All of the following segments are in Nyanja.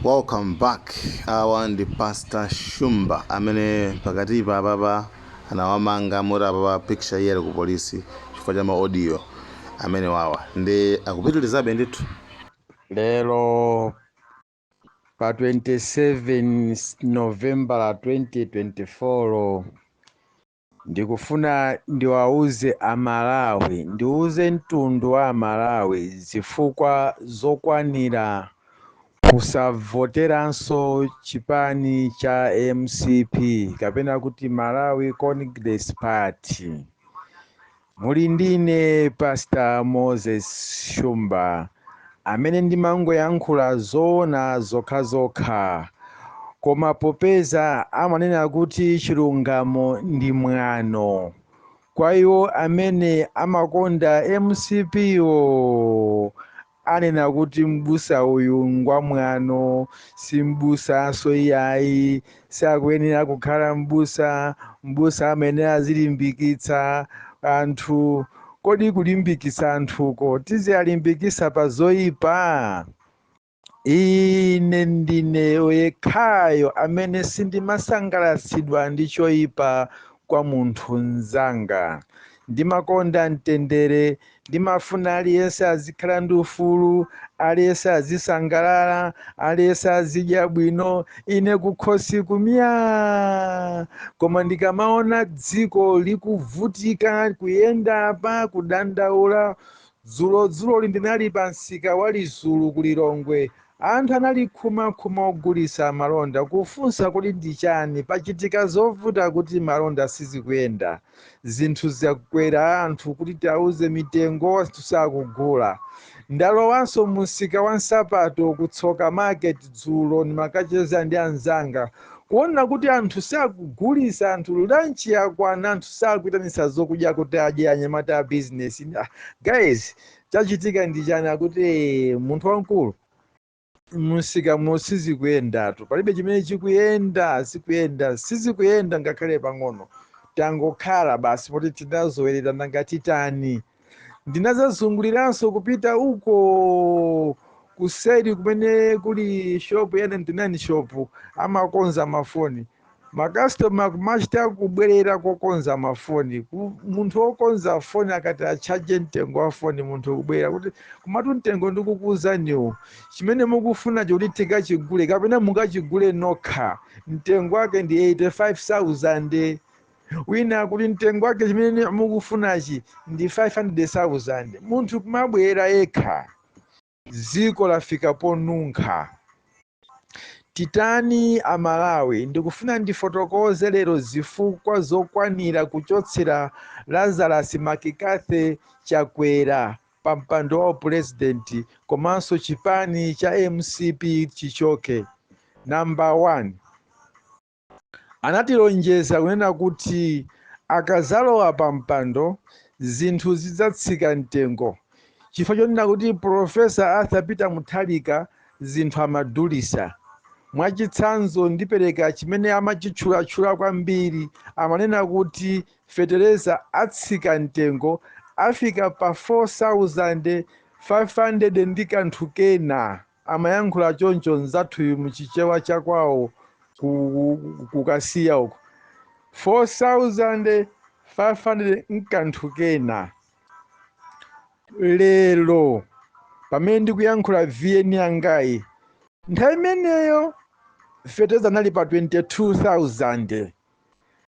Welcome back awa ndi pastor shumba amene pakatipa apapa anawamanga moti apapa picture iye ali ku polisi chifukwa cha ma audio amenewa awa ndi akupitilizabe ndithu lero pa 27 novembala 2024 Ndikufuna ndiwauze a Malawi, ndiuze mtundu wa a Malawi zifukwa zokwanira kusavoteranso chipani cha mcp kapena kuti Malawi Congress Party. Muli ndine pastor Moses Shumba amene ndimangoyankhula zoona zokhazokha koma popeza amanena kuti chilungamo ndi mwano kwa iwo amene amakonda mcp-wo Anena kuti m'busa uyu ngwamwano, si m'busanso iyayi, sakuyenera kukhala m'busa, m'busa amayenera azilimbikitsa anthu. Kodi kulimbikitsa anthuko tiziwalimbikitsa pa zoipa? Ine ndine yekhayo amene sindimasangalatsidwa ndi choipa kwa munthu mnzanga. Ndimakonda mtendere. Ndimafuna aliyense azikhala ndi ufulu, aliyense azisangalala, aliyense azidya bwino, ine kukhosi ku myaa! Koma ndikamaona dziko likuvutika, kuyenda apa, kudandaula, Dzulodzuloli ndinali pamsika wa Lizulu ku Lilongwe, Anthu anali khuma khuma ogulitsa malonda kufunsa kuti ndi chani pachitika zovuta kuti malonda sizikuyenda zinthu zakwera anthu kuti tiwauze mitengo anthu sakugula. Ndalowanso mu msika wa nsapato ku tsoka market dzulo ndimakacheza ndi anzanga kuona kuti anthu sakugulitsa anthu lunch yakwana anthu sakuitanitsa zokudya kuti adye anyamata a business. Guys chachitika ndi chani akuti "Eh, munthu wamkulu msika muno sizikuyendatu palibe chimene chikuyenda zikuyenda sizikuyenda ngakhale pang'ono tangokhala basi poti tinazolowera nanga titani ndinazazunguliranso kupita uko kuseri kumene kuli shopu ya 99 shopu amakonza mafoni makastoma kumachita kubwerera kokonza mafoni munthu wokonza foni akati atchaje mtengo wa foni munthu kubwerera kuti kumatu mtengo ndikukuuzaniwo chimene mukufunacho kuti tikachigule kapena mukachigule nokha mtengo wake ndi 85000 wina kuti mtengo wake chimene mukufunachi ndi 500000 munthu kumabwerera yekha Dziko lafika ponunkha. Titani a Malawi? Ndikufuna ndifotokoze lero zifukwa zokwanira kuchotsera Lazarus McCarthy Chakwera pa mpando wa upulezidenti komanso chipani cha mcp chichoke. Number 1. Anatilonjeza kunena kuti akadzalowa pampando zinthu zidzatsika mtengo chifukwa chonena kuti Pulofesa Arthur Peter Mutharika zinthu amadulitsa. Mwachitsanzo ndipereka chimene amachitchulatchula kwambiri, amanena kuti fetereza atsika mtengo afika pa 4500 ndi kanthu kena. amayankhula choncho nzathuyu mu chichewa cha kwawo ku kasiya uko 4500 nkanthu kena lero pamene ndikuyankhula vn yangayi nthawi imeneyo feteza anali pa 22000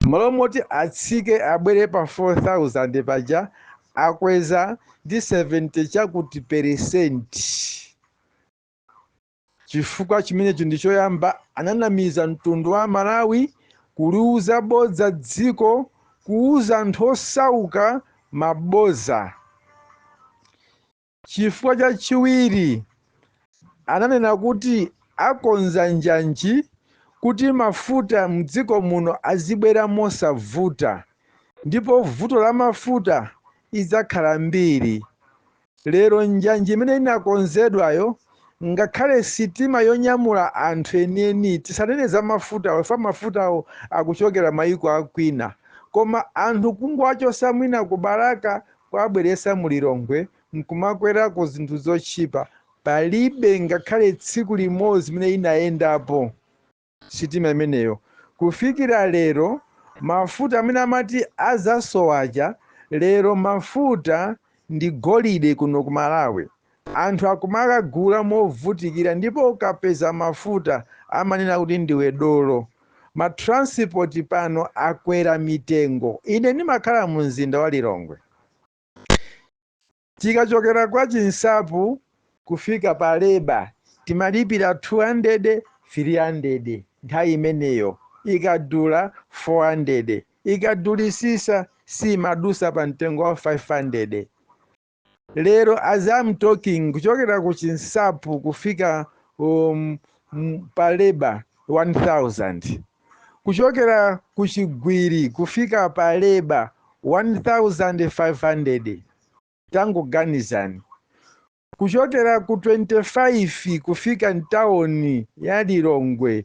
Mmalo moti atsike abwere pa 4000 paja akweza ndi 70 chakuti peresenti. Chifukwa chimenecho ndi choyamba ananamiza mtundu wa a Malawi kuliuza bodza dziko kuuza anthu osauka maboza. Chifukwa chachiwiri, ananena kuti akonza njanji kuti mafuta m'dziko muno azibwera mosavuta ndipo vuto la mafuta idzakhala mbiri. Lero njanji imene inakonzedwayo, ngakhale sitima yonyamula anthu enieni, tisanene za mafutawo chifukwa mafutawo akuchokera mayiko a kwina, koma anthu kungowachotsa mwina ku Balaka kuwabweretsa mu Lilongwe nkumakwerako zinthu zotchipa, palibe ngakhale tsiku limodzi limene inayendapo sitima imeneyo. Kufikira lero mafuta amene amati azasowa aja, lero mafuta ndi golide kuno ku Malawi. Anthu akumaagula movutikira ndipo ukapeza mafuta amanena kuti ndiwe dolo. Ma transport pano akwera mitengo. Ine ndimakhala mu mzinda wa Lilongwe. Tikachokera kwa Chinsapu kufika pa Leba timalipira 200, 300 nthawi imeneyo. Ikadula 400. Ikadulisisa siimadusa pa mtengo wa 500. lero as I'm talking kuchokera ku chinsapu kufika um, m- pa Labour 1000 kuchokera ku chigwiri kufika pa Labour 1500 tangoganizani kuchokera ku 25 kufika mtawuni ya lilongwe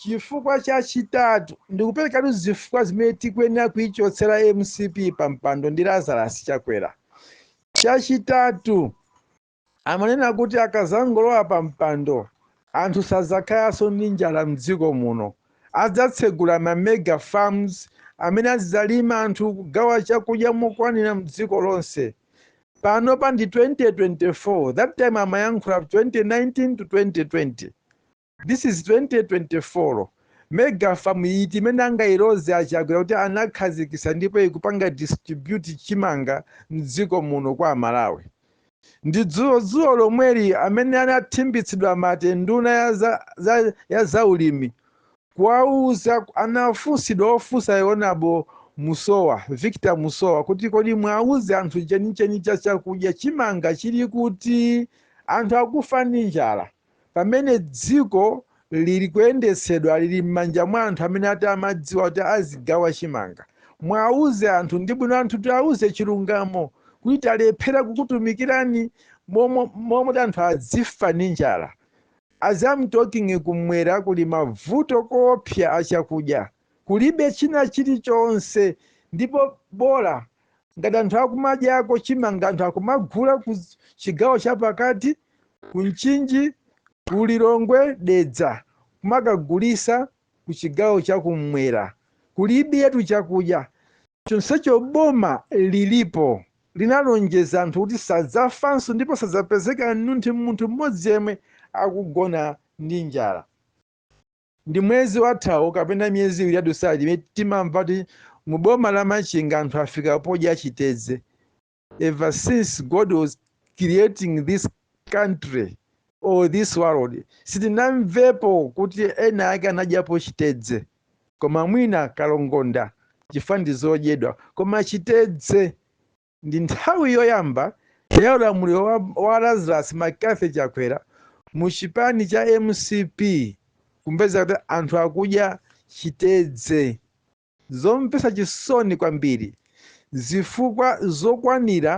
Chifukwa chachitatu ndikuperekatu zifukwa zimene tikuyenera kuichotsera mcp pa mpando ndi Lazarus Chakwera. Chachitatu amanena kuti akazangolowa pa mpando anthu sadzakhalanso ndi njala mdziko muno. Adzatsegula ma mega farms amene azidzalima anthu kugawa chakudya mokwanira mdziko lonse. Panopa ndi 2024 that time amayankhula 2019 to 2020. This is 2024 mega farm iti imene angailoze a Chakwera kuti anakhazikisa ndipo ikupanga distribute chimanga mdziko muno kwa amalawi? Ndi dzulo dzulo lomweli amene anathimbitsidwa mate nduna ya za, za, ya za ulimi kuwauza anafunsidwa ofunsayo onabo Musowa Victor Musowa kuti kodi mwauze anthu chenicheni cha chakudya chimanga chili kuti anthu akufa ndi njala? Pamene dziko liri kuyendetsedwa liri mmanja mwa anthu amene ati amadziwa kuti azigawa chimanga, muauze anthu ndi bwino anthu tiauze chilungamo kuti talephera kukutumikirani mmene muti anthu adzifa ndi njala. As I'm talking kumwera kuli mavuto koopsa a chakudya. Kulibe china chili chonse ndipo bola ngati anthu akumadyako chimanga anthu akumagula ku chigawo chapakati, ku Mchinji, ku Lilongwe, Dedza kumakagulisa ku chigawo cha kum'mwera. Kulibe yetu chakudya chonsecho boma lilipo linalonjeza anthu kuti sadzafanso ndipo sadzapezeka nunthi munthu m'modzi yemwe akugona ndi njala. Ndi mwezi wathawu kapena miyezi iwiri yadutsayi imene timamva kuti mu boma la Machinga anthu afika podya chitedze. Ever since God was creating this country or this world sitinamvepo kuti ena ake anadyapo chitedze koma mwina kalongonda chifukwa ndi zodyedwa koma chitedze Ndi nthawi yoyamba ya ulamuliro wa wa Lazarus McCarthy Chakwera mu chipani cha mcp kumveka kuti anthu akudya chitedze. Zomvetsa chisoni kwambiri. Zifukwa zokwanira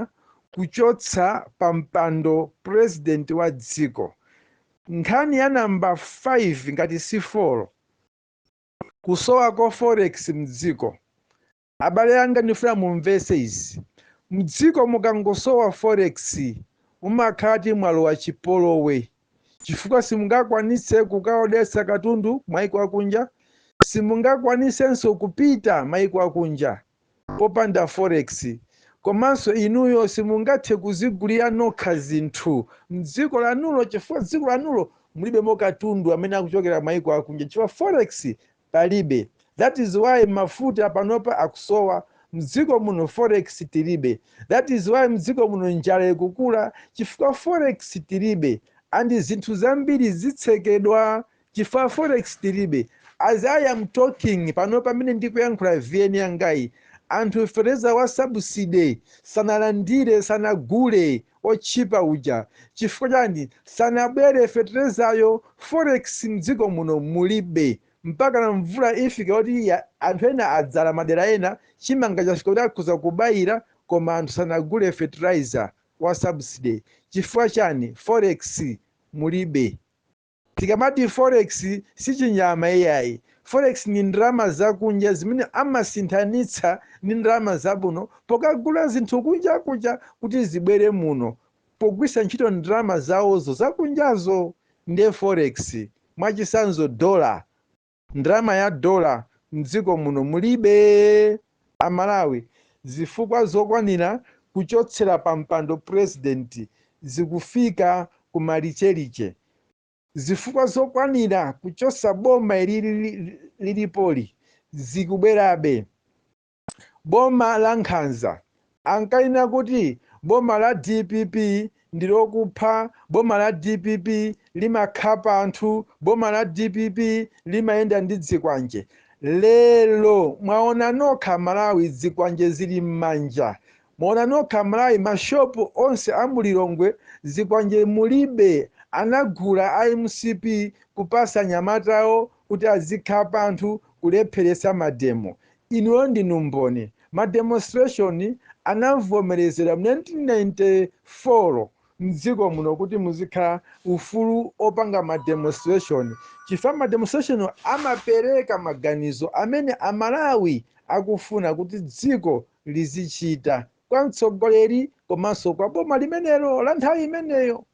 kuchotsa pa mpando president wa dziko. Nkhani ya number 5 ngati si 4. Kusowa kwa forex mdziko. Abale anga ndifuna mumvetse izi, mdziko mukangosowa forex umakhala kuti mwalowa chipolowe chifukwa simungakwanise kukaodesa katundu maiko akunja, simungakwanisenso kupita maiko akunja popanda forex komanso inuyo simungathe kuzigulira nokha zinthu mdziko lanulo chifukwa dziko lanulo mulibemo katundu amene akuchokera maiko akunja chifukwa forex palibe that is why mafuta panopa akusowa mdziko muno forex tilibe that is why mdziko muno njala ikukula chifukwa forex tilibe and zinthu zambiri zitsekedwa chifukwa forex tilibe as i am talking panopa pamene ndikuyankhula vn yangayi anthu fetereza wa subsidy sanalandire sanagule otchipa uja chifukwa chani sanabwere fetelezayo forex mdziko muno mulibe mpakana mvula ifika kuti anthu ena adzala madera ena chimanga chafika kuti akhoza kubayira koma anthu sanagule fertilizer wa subsidy chifukwa chani forex mulibe. Tikamati Forex si chinyama iyayi. Forex ndi ndalama zakunja zimene amasinthanitsa ndi ndalama zamuno pokagula zinthu kunja kunja kuti zibwere muno pogwiritsa ntchito ndalama zawozo zakunjazo ndiye Forex. Mwachitsanzo dollar. Ndalama ya dollar mdziko muno mulibe a Malawi zifukwa zokwanira kuchotsera pa mpando president zikufika ku malicheliche. Zifukwa zokwanira kuchosa boma ilili lilipoli zikubwerabe. boma la nkhanza, ankanena kuti boma la dpp ndi lokupha, boma la dpp limakhapa anthu, boma la dpp limayenda ndi dzikwanje. Lero mwaona nokha Malawi dzikwanje zili mmanja, mwaona nokha Malawi ma shop onse a mu Lilongwe zikwanje mulibe, anagula a mcp kupasa anyamata awo kuti azikhapa anthu kulepheretsa mademo. Inuyo ndinu mboni. Ma demonstration anavomerezera mu 1994 mdziko muno kuti muzikhala ufulu opanga ma demonstration chifukwa ma demonstration amapereka maganizo amene a Malawi akufuna kuti dziko lizichita kwa mtsogoleri komanso kwa boma limenelo la nthawi imeneyo.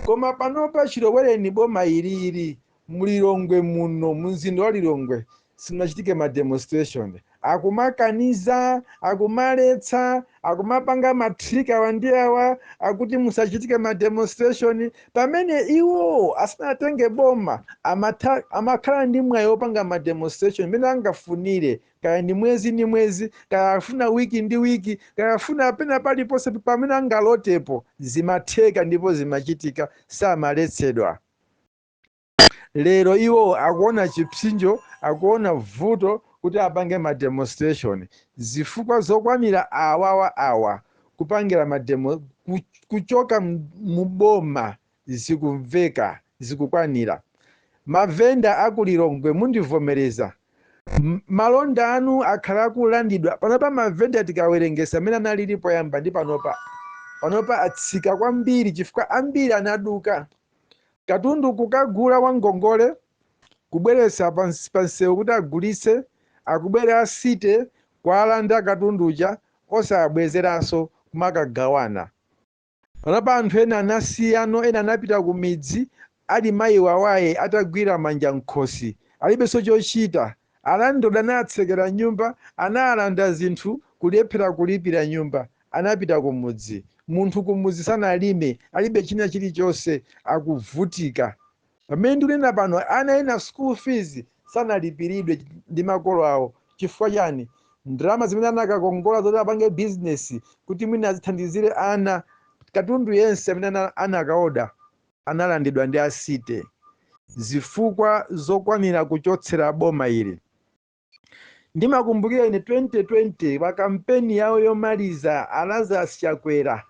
Koma panopa chilowereni boma ilili mu Lilongwe muno mu mzinda wa Lilongwe simunachitike ma demonstration. Akumakaniza, akumaletsa, akumapanga ma trick awa ndi awa akuti musachitike ma demonstration pamene iwo asanatenge boma amakhala ndi mwayi wopanga ma demonstration mmene angafunire. kaya ndi mwezi ndi mwezi kaya afuna wiki ndi wiki kaya afuna pena paliponse pamene angalotepo zimatheka ndipo zimachitika samaletsedwa lero iwo akuona chipsinjo akuona vuto kuti apange ma demonstration zifukwa zokwanira awawa awa kupangira mademo ku- kuchoka m- muboma Zikumveka, zikukwanira. Ma venda a ku Lilongwe mundivomereza, malonda anu akhala akulandidwa. Panopa ma venda tikawerengesa mmene analili poyamba ndi panopa, panopa atsika kwambiri chifukwa ambiri anaduka. Katundu kukagula wa ngongole, kubweretsa pa msewu kuti agulitse, akubwera a city kualanda katundu uja osawabwezeranso kumakagawana. Panopa anthu ena anasiyano ena anapita kumidzi ali mayi wawaye atagwira manja mkhosi alibenso chochita alandlord anawatsekera nyumba anawalanda zinthu kulephera kulipira nyumba anapita kumudzi munthu kumudzi sanalime alibe china chilichonse akuvutika Pamene ndikunena pano ana ena school fees sanalipiridwe ndi makolo awo chifukwa chani? Ndalama zimene anakakongola zoti apange business kuti mwina azithandizire ana, katundu yense amene anakaoda analandidwa ndi a city zifukwa zokwanira kuchotsera boma ili. ndimakumbukira ine 2020 pa kampeni yawo yomaliza a Lazarus Chakwera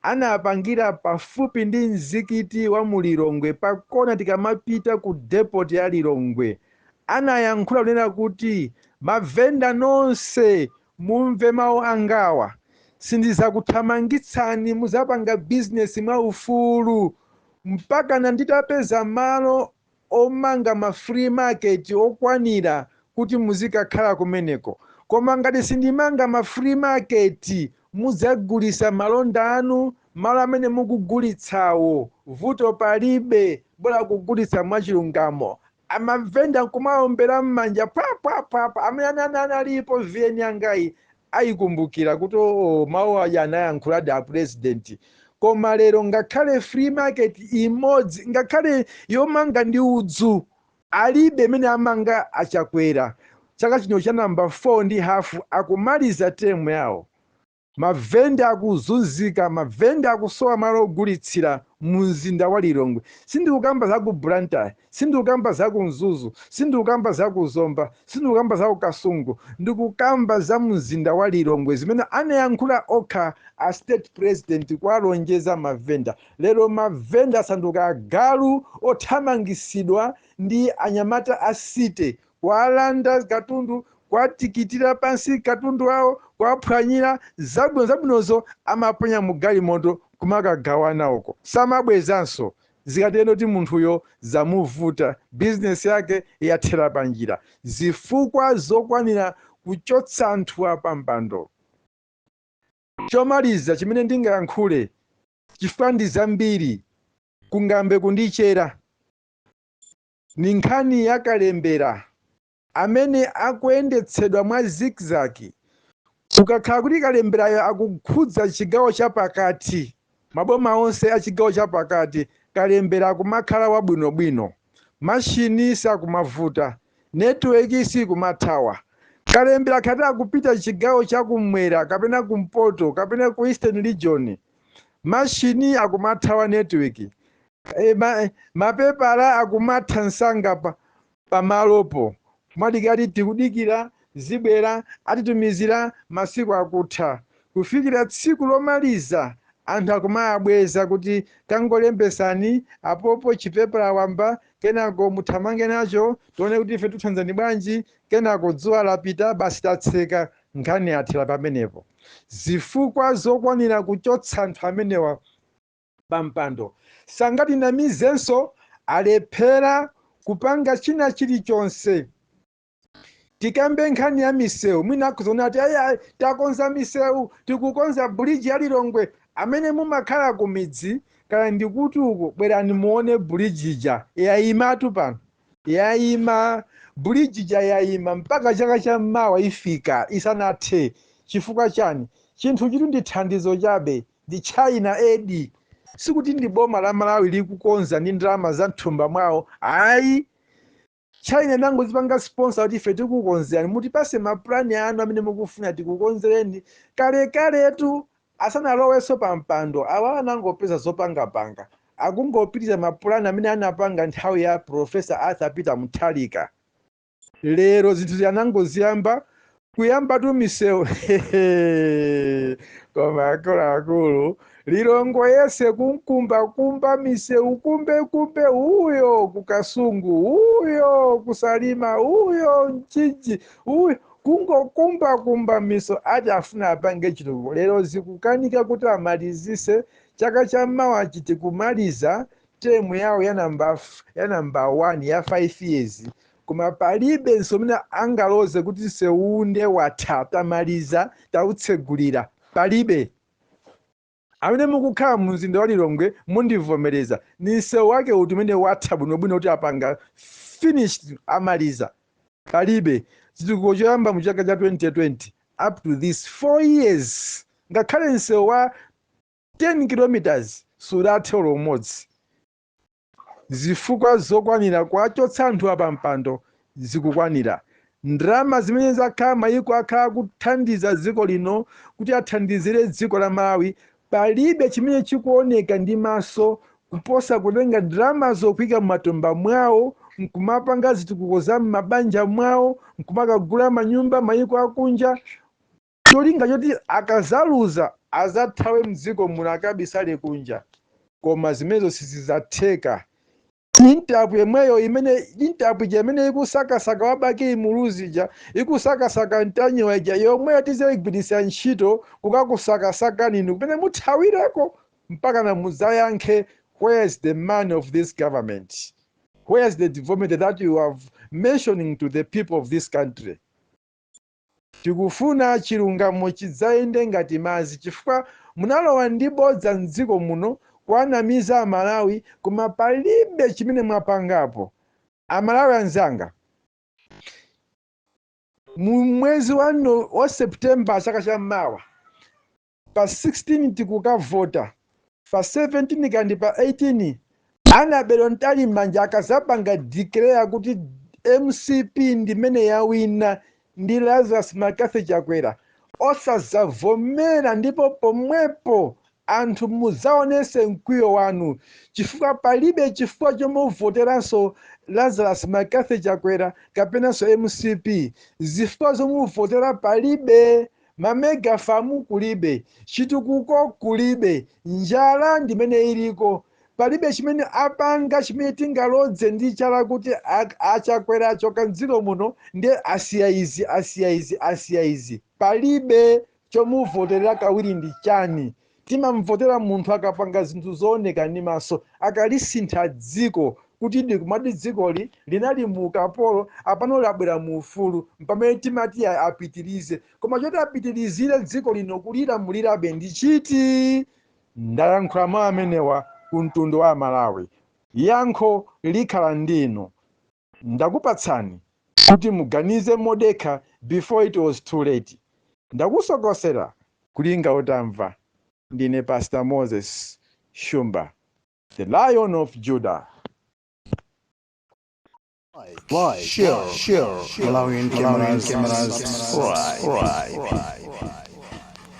anapangira pafupi ndi mzikiti wa mu Lilongwe pa kona tikamapita ku depot ya Lilongwe anayankhula kunena kuti mavenda nonse mumve mawu angawa sindizakuthamangitsani muzapanga bizinesi mwaufulu mpakana nditapeza malo omanga ma free market okwanira kuti muzikakhala kumeneko koma ngati sindimanga ma free market mudzagulisa malonda anu malo amene mukugulitsawo vuto palibe bola kugulitsa mwachilungamo amavenda nkumaombera mmanja pwa pwa pwa pwa amene analipo vn yangayi ayikumbukira kuti oo mau aja anayankhuladi a president koma lero ngakhale free market imodzi ngakhale yomanga ndi udzu alibe imene amanga a chakwera chaka chino cha namba 4 ndi hafu akumaliza term yawo mavenda akuzunzika mavenda akusowa malo ogulitsira mu mzinda wa lilongwe sindikukamba za ku blantyre Sindikukamba za ku Mzuzu, sindikukamba za ku Zomba, sindikukamba za ku Kasungu, ndikukamba za mzinda wa Lilongwe zimene anayankhula okha a state president kuwalonjeza ma vendor. Lero ma vendor asanduka agalu othamangisidwa ndi anyamata a city kuwalanda katundu, kuwatikitira pansi katundu wawo, kuwaphwanyira zabwino zabwinozo amaponya mu galimoto kumakagawana uko samabwezanso. Zikatero kuti munthuyo zamuvuta, business yake yathera panjira. Zifukwa zokwanira kuchotsa anthuwa pampando. Chomaliza chimene ndingayankhule chifukwa ndi zambiri kungambe kundichera, ndi nkhani ya kalembera amene akuyendetsedwa mwa zigzag ukakhala kuti kalemberayo akukhudza chigawo chapakati, maboma onse a chigawo chapakati, kalembera akumakhala wabwinobwino, mashini sakumavuta, netiweki sikumathawa. Kalembera akati akupita chigawo cha kumwera kapena kumpoto kapena ku Eastern Region, mashini akumathawa netiweki, mapepala akumatha msanga pa pamalopo kumadikira ati tikudikira zibwera atitumizira masiku akutha kufikira tsiku lomaliza anthu akumawabweza kuti tangolembetsani apopo chipepala wamba kenako muthamange nacho tione kuti ife tikuthandizani bwanji kenako dzuwa lapita basi tatseka nkhani yathera pamenepo zifukwa zokwanira kuchotsa anthu amenewa pa mpando sangatinamizenso alephera kupanga china chilichonse tikambe nkhani ya misewu mwina akuzaona ati ayayi takonza misewu tikukonza bridge ya lilongwe amene mumakhala ku midzi kaya ndikuti uko bwerani muone bridge ija yayimatu pano yayima bridge ija yayima mpaka chaka cha mawa ifika isanathe chifukwa chani chinthu chiti ndi thandizo chabe ndi China aid. Sikuti ndi boma la Malawi likukonza ndi ndalama za mthumba mwawo ayi. China inangozipanga sponsor kuti ife tikukonzerani, mutipase ma plan anu amene mukufuna tikukonzereni. Kalekaletu asanalowenso pa mpando awa anangopeza zopangapanga, akungopitiriza ma plan amene anapanga nthawi ya Prof. Arthur Peter Mutharika. lero zinthu ziyanangoziyamba kuyambatu misewu koma akuluakulu lilongo yese kumkumbakumba misewu kumbekumbe uyo kukasungu uyo kusalima uyo mchinji uyo kungokumbakumba miso ati afuna apange chitukuko lero zikukanika kuti amalizise chaka cha mawa chiti kumaliza term yawo ya number f- ya number 1 ya 5 years koma palibe nsewu umene angaloze kuti nsewu unde watha tamaliza tautsegulira palibe amene mukukhala mu mzinda wa lilongwe mundivomereza ni msewu wake uti umene watha bwinobwino kuti apanga finished amaliza palibe chitukuko choyamba mu chaka cha 2020 up to this 4 years ngakhale msewu wa 10 kilometers sudathe olo umodzi. Zifukwa zokwanira kuwachotsa anthuwa pa mpando zikukwanira. Ndalama zimene zakhala mayiko akhala akuthandiza dziko lino kuti athandizire dziko la Malawi palibe chimene chikuoneka ndi maso kuposa kutenga ndalamazo kuika m'matumba mwawo nkumapanga zitukuko za m'mabanja mwawo nkumakagula manyumba mayiko akunja cholinga choti akazaluza azathawe mdziko muno akabisale kunja koma zimenezo sizizatheka Interpol yomweyo imene Interpol ija imene ikusakasaka wa Bakili Muluzi ija ikusakasaka Ntanyiwa ija yomweyo tizaigwiritsa ntchito kukakusakasakani inu kumene muthawireko mpaka na mudzayankhe where's the money of this government where's the development that you have mentioning to the people of this country Tikufuna chilungamo chidzayende ngati madzi chifukwa munalowa ndi bodza m'dziko muno kuwanamiza amalawi koma palibe chimene mwapangapo. Amalawi anzanga mu mwezi wa September chaka cha mawa pa 16 tikukavota pa 17 kaya ndi pa 18 Annabel Mtalimanja akazapanga declare kuti mcp ndimene yawina ndi lazarus mccarthy chakwera osazavomera ndipo pomwepo anthu muzaonese mkwiyo wanu chifukwa palibe chifukwa chomuvoteranso lazarus mccarthy chakwera kapenanso mcp zifukwa zomuvotera palibe Ma mega farm kulibe, chitukuko kulibe, njala ndimene iliko, palibe chimene apanga chimene tingalodze ndi chala kuti a Chakwera achoka mdziko muno nde asiya izi asiya izi asiya izi. Palibe, chomuvoterera kawiri ndi chani? Timamvotera munthu akapanga zinthu zooneka ndi maso, akalisintha dziko kuti ndi kumati dzikoli linali mu ukapolo apano labwera mu ufulu mpamene timati ya apitilize koma choti apitilizire dziko lino kulilamulirabe ndi chiti? Ndayankhula mau amenewa ku mtundu wa amalawi. Yankho likhala ndi inu. Ndakupatsani kuti muganize modekha before it was too late. Ndakusokosera kulinga utamva. Ndine Pastor Moses Shumba, the lion of Judah. Like, share, share, Malawian cameras, cameras, right, right.